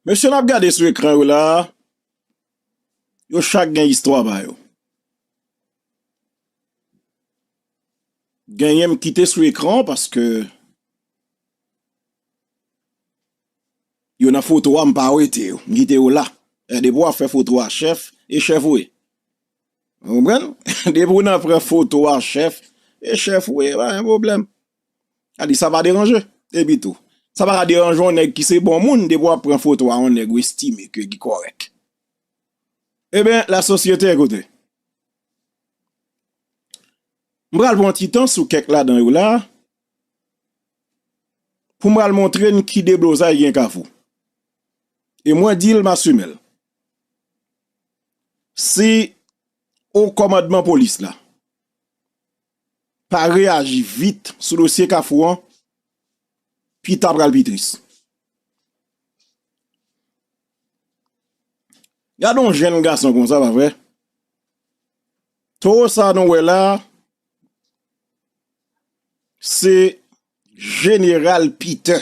Mesye nap gade sou ekran yo la a, yo chak gen istwa pa yo. Genyen m kite sou ekran paske yo nan foto a m pa wete yo, m kite yo la. E depi w ap fè foto a chèf, e chèf ou ye. Ou konprann? Depi w nan pran foto a chèf, e chèf ou ye, pa gen pwoblèm. A di sa pa deranje. Epi tou, sa pa ka deranje yon nèg ki se bon moun depi w ap pran foto a yon nèg ou estime ke li kòrèk. Eben, lasosyete, koute. M pral pran ti tan sou kèk ladan yo la a pou m pral montre n ki deblozay gen Kafou. E mwen di l, m asime l. Si Okòmandman Polis la. pa reyaji vit sou dosye kafou an, pita pral pi tris. Gade yon jenn gason konsa pa vre? Towo sa nou wè la, se jeneral pite.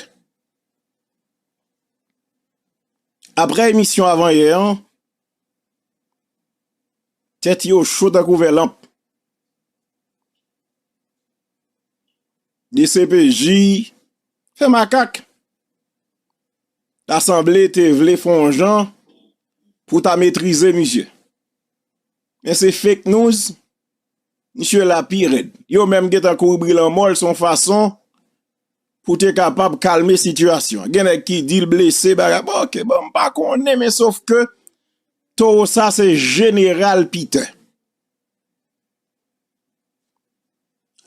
Apre emisyon avan yè an, Tèt yo cho tankou vè lanp. Dcpj fè makak. Ta sanble te vle fè yon jan pou ta metrize misye. Men se fake news. Misye la pi rèd. Yo menm gentan kouri bri lanmò l se yon fason Pou te kapab kalme sitiyasyon. Gen nèg ki di l blese bagay. Bon ok, bon m pa konnen men sof ke towo sa se jeneral Piter.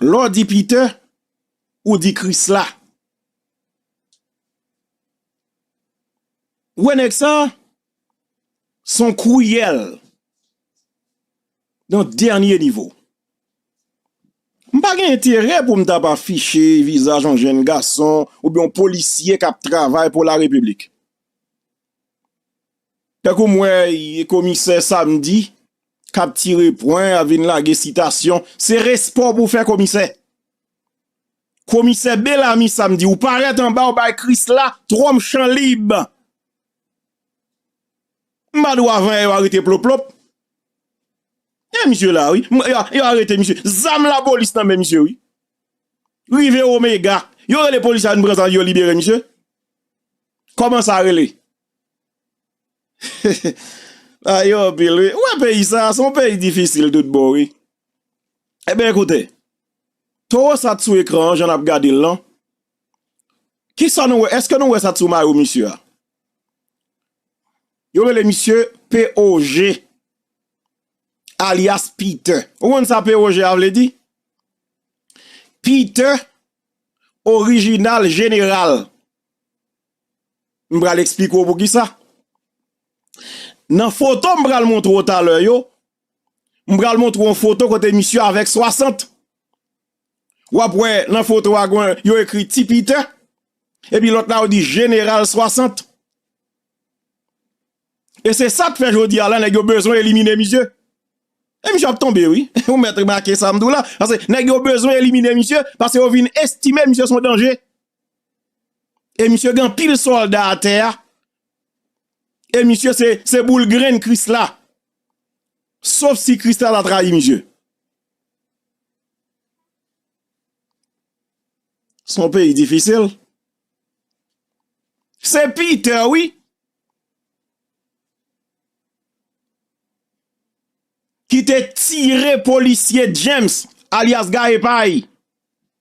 Lè w di Piter, ou di Krisla. Ou wè nèg sa, Son kriyèl nan dènye nivo. M pa gen enterè pou m ta pa fiche vizaj yon jenn gason ou byen yon polisye kap travay pou la repiblik. Tankou m wè yon komisè samdi kap tire pwen ap vin lage sitasyon, se respè w pou fè komisè. Komisè Belami samdi ou parèt anba ou bay krisla twonm chan lib. M pa dou avan yè yo arete ploplop. E misye la wi. Yo arete misye. Zam la polis nan men misye wi. Rive omega. Yo rele polis la vin pran zam yo libere misye. Koman sa rele. Bagay yo anpil wi. Ou e peyi sa. Son peyi difisil tout bon wi. E ben ekoute. Towo sa t sou ekran jan nap gade lan. Kisa nou wè eske nou wè sa t sou mayo misye a yo rele misye POG alyas Peter ou konn sa POG a vle di Peter original general m pral esplike w poukisa nan foto m pral montre w talè yo m pral montre w yon foto kote misye avèk 60. W ap wè nan foto a gwen yo ekri Ti Piter. E pi lòt la yo di Jeneral 60. E se sa k fè jodi a la nèg yo bezwen elimine misye. E misye ap tonbe wi. Ou mèt remake sa m di w la. Pase nèg yo bezwen elimine misye. Pase yo vin estime misye son danje. E misye gen anpil sòlda atè a. E misye se boul grenn Krisla. Sof si Krisla ta trayi misye. Son peyi difisil. Se Peter wi. Ki te tire polisye James alias Gaye Pay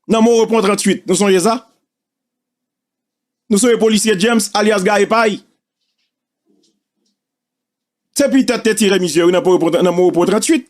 nan Morepon 38. Nou sonje sa? Nou sonje polisye James alias Gaye Pay? Se Peter te tire misye wi nan Morepon 38.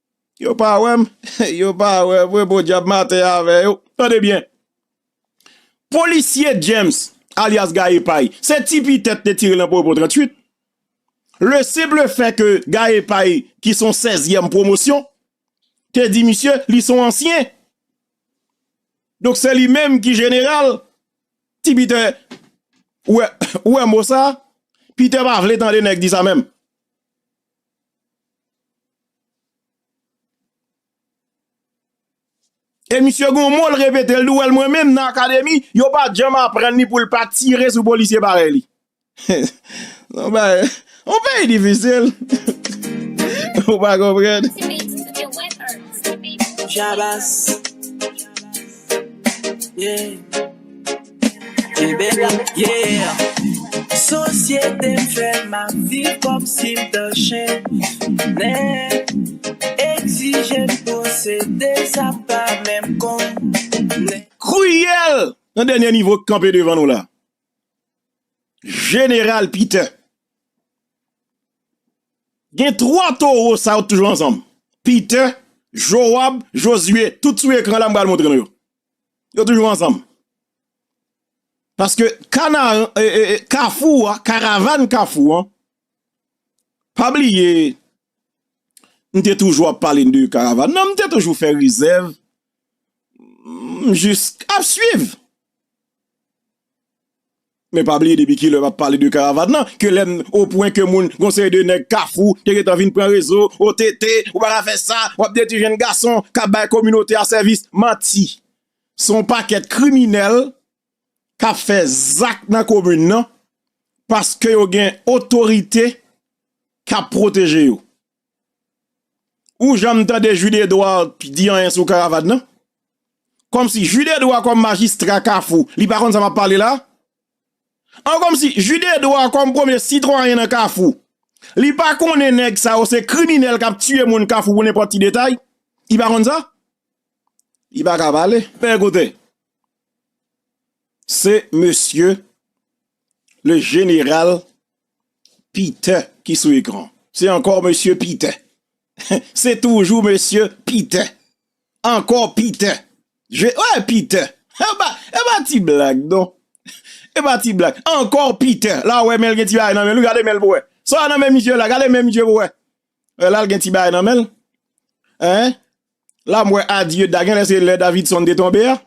Yo pa wè m, yo pa wè mwen podyab maten avè yo. Tande byen, polisye James alyas Gaye Pay, se ti pi tèt te tire l nan powopo 38, le simple fait que Gaye Pay ki s on sèzyèm pwomosyon te di misye li s on ansyen, donk se li menm ki jeneral, ti Piter ou wè mo sa, Piter pa vle tande nèg di sa menm. E misye gen yon mo l repete, l di w wè l mwen menm nan akademi, yo pa t janm aprann li pou l pa tire sou polisye parèy li. Son bagay, yon peyi difisil, ou pa konprann. Shabazz, yeah. Kebek la, yeah! Sosyete m fè m ap viv kòmsi m t on chennen Egzije m posede sa m pa menm konnen Kriyèl nan dènyè nivo k kanpe devan nou la Jeneral Pitè Gen twa towo sa yo t toujou ansanm Pitè, Jowab, Jozye, tout sou ekran la m pral montre nou yo Yo toujou ansanm. Paske kanaran, kafou a, karavan kafou a, pa bliye, m te toujou ap pale de karavan nan, m te toujou fè rezèv, m jis ap swiv. Men pa bliye depi kilè map pale de karavan nan ke lè m o pwen ke moun gon seri de nèg kafou te gentan vin pran rezo o te te ou pa ka fè sa wap detwi jenn gason kap bay kominote a sèvis manti son pakèt kriminèl kap fè zak nan komin nan paske yo gen otorite kap pwoteje yo. Ou janm tande Jude Edouard di anyen sou Caravane nan? Kòmsi Jude Edouard kòm majistra Kafou, li pa konn sa map pale la? An kòmsi Jude Edouard kòm premye sitwayen nan Kafou, li pa konnen nèg sa yo se kriminèl kap tiye moun Kafou pou nenpòt ti detay? Li pa konn sa? Li paka pale. Men koute, se mesye le jeneral Peter ki sou ekran se ankò mesye Peter se toujou mesye Peter ankò Peter je eh Peter epa epa ti blag non epa ti blag ankò Peter la wè menl gen ti bagay nan menl wi gade menl pou wè sa nan men misye la gade men misye pou wè lal gen ti bagay nan menl hein la m wè adye da genlè se lè Davidson te tonbe a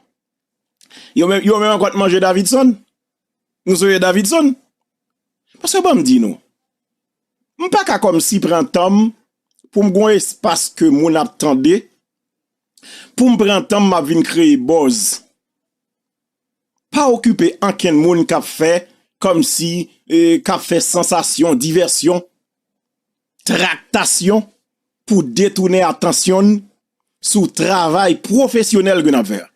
yo menm yo menm ankò t manje Davidson. Nou zoe Davidson? Paske banm di nou, m pa ka kòmsi pran tan m pou m gon espas ke moun ap tande, pou m pran tan m map vin kreye buzz. Pa okipe ankenn moun kap fè kòmsi, kap fè sansasyon, divèsyon, traktasyon pou detounen atansyon n sou travay pwofesyonèl ke nap fè a.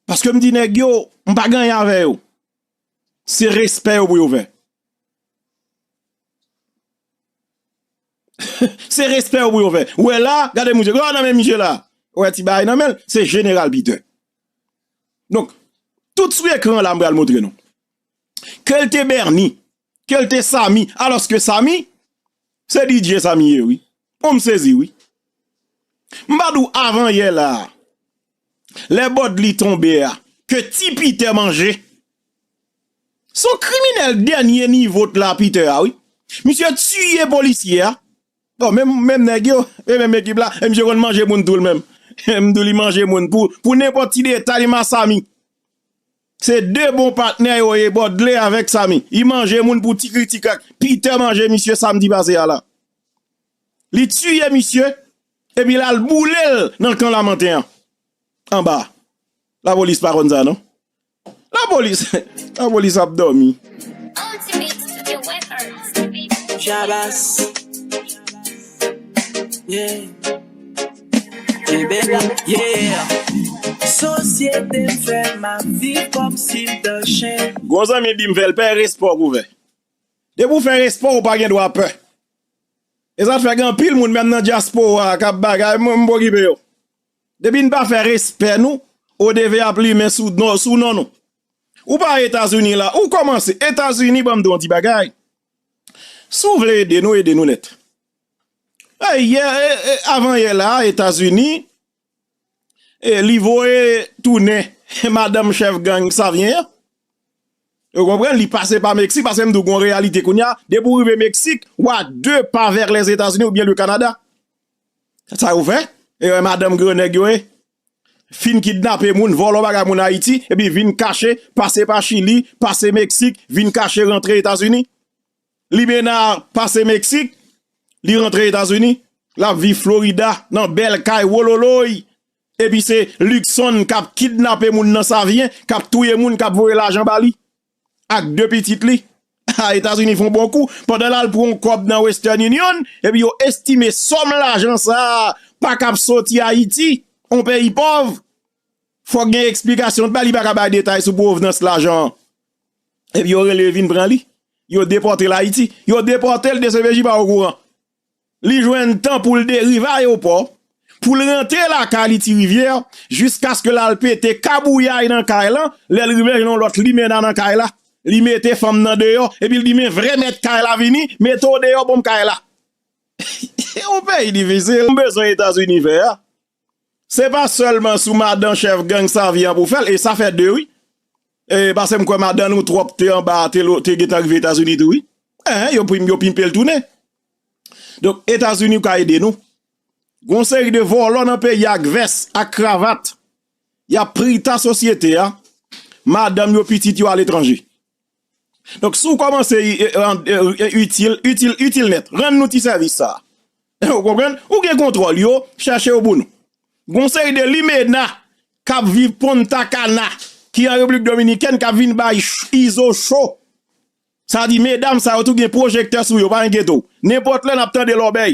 Paske m di nèg yo, m pa gen anyen avè yo. Se respè yo pou yo fè. Se respè yo pou yo fè. Ou wè la, gade misye, gade nan men misye la. Ou wè ti bagay nan men l, se Jeneral Peter. Donk, tout sou ekran la m pral montre nou. Ke l te Berni, ke l te Samy alòske Samy se DJ Samy ye wi oh m sezi wi m pa di w avan yè la a lè bodly tonbe a ke ti peter manje s on kriminèl dènye nivo t la peter a wi misye tiye polisye a bon menm nèg yo e menm ekip la e misye konn manje moun tou l menm m di w li manje moun pou nenpòt ti detay m a Samy. Se de bon patnè yo ye Bodley avèk Samy. Li manje moun pou ti kritik ak Peter manje misye samdi pase a la. Li tiye misye epi l al boule l nan kan Lamantin an anba a. Lapolis pa konn sa non. Lapolis, lapolis ap dòmi. Shabazz, yeah. Gwo zanmi di m fè l pè respè w pou vè. Depi w fè respè w pa gen dwa pè. E sa fè gen anpil moun menm nan dyaspora k ap bagay mwen m pa okipe yo. Depi n pa fè respè nou ODV ap limen sou non nou. Ou pa Etazini la ou kòmanse Etazini ban m di w yon ti bagay. Si w vle ede nou ede nou nèt. Avan yè la a Etazini li voye tounen madanm chèf gang Savyen an. Ou konprann? Li pase pa Meksik paske m di w gon reyalite kounye a depi w rive Meksik ou a 2 pa vèr Lèzetazini oubyen le Kanada. Se sa yo fè. E yo e madanm gran nèg yo ye. Fin kidnape moun, vòlò bagay moun Ayiti epi vin kache pase pa Chili, pase Meksik vin kache rantre Etazini. Libenar pase Meksik, li rantre Etazini, lap viv Florida nan bèl kay wololoy, epi se Luckson kap kidnape moun nan Savyen, kap touye moun, kap voye lajan ba li ak 2 pitit li. Ah Etazini fon bon kou, pandan lal pran yon kòb nan Western Union, epi yo estime sòm lajan sa pa kap soti Ayiti, yon peyi pòv. Fòk gen eksplikasyon, li pa ka bay detay sou pwovnans lajan an. Epi yo rele yo vin pran li. Yo depòte l Ayiti. Yo depòte l dcpj pa okouran. Li jwenn tan pou l de rive ayopò, pou l rantre lakay li Tirivyè, jiskaske l al pete kabouyay nan kay lan, lè l rive jwenn yon lòt limena nan kay la. Li mete fanm nan deyò, epi l di men vrè mèt kay la vini, mete w deyò bon m kay la. Se yon peyi difisil. M bezwen Etazini fè a. Se pa selman sou madan chef gang Savien an pou fèl e sa fè 2 wi. Pase m kwè madan nou trop te anba te gentan rive etazini tou wi. Eeh yo prim yo pimpel tounen. Donk etazini ka ede nou. Gon seri de volo nan peyi ak vès ak kravat. Yap prita sosyete a. Madanm yo pitit yo aletranje. Donk si w kòmanse itil, itil, itil nèt, rann nou ti sèvis sa a. Ou konprann? Ou gen kontwòl yo, chèche yo pou nou. Gon seri de limena k ap viv Punta Cana ki an Repiblik Dominikèn k ap vin bay Izo cho. Sa di medam sa yo tou gen pwojektè sou yo, pa enkete w. Nenpòt lè n ap tande lòbèy.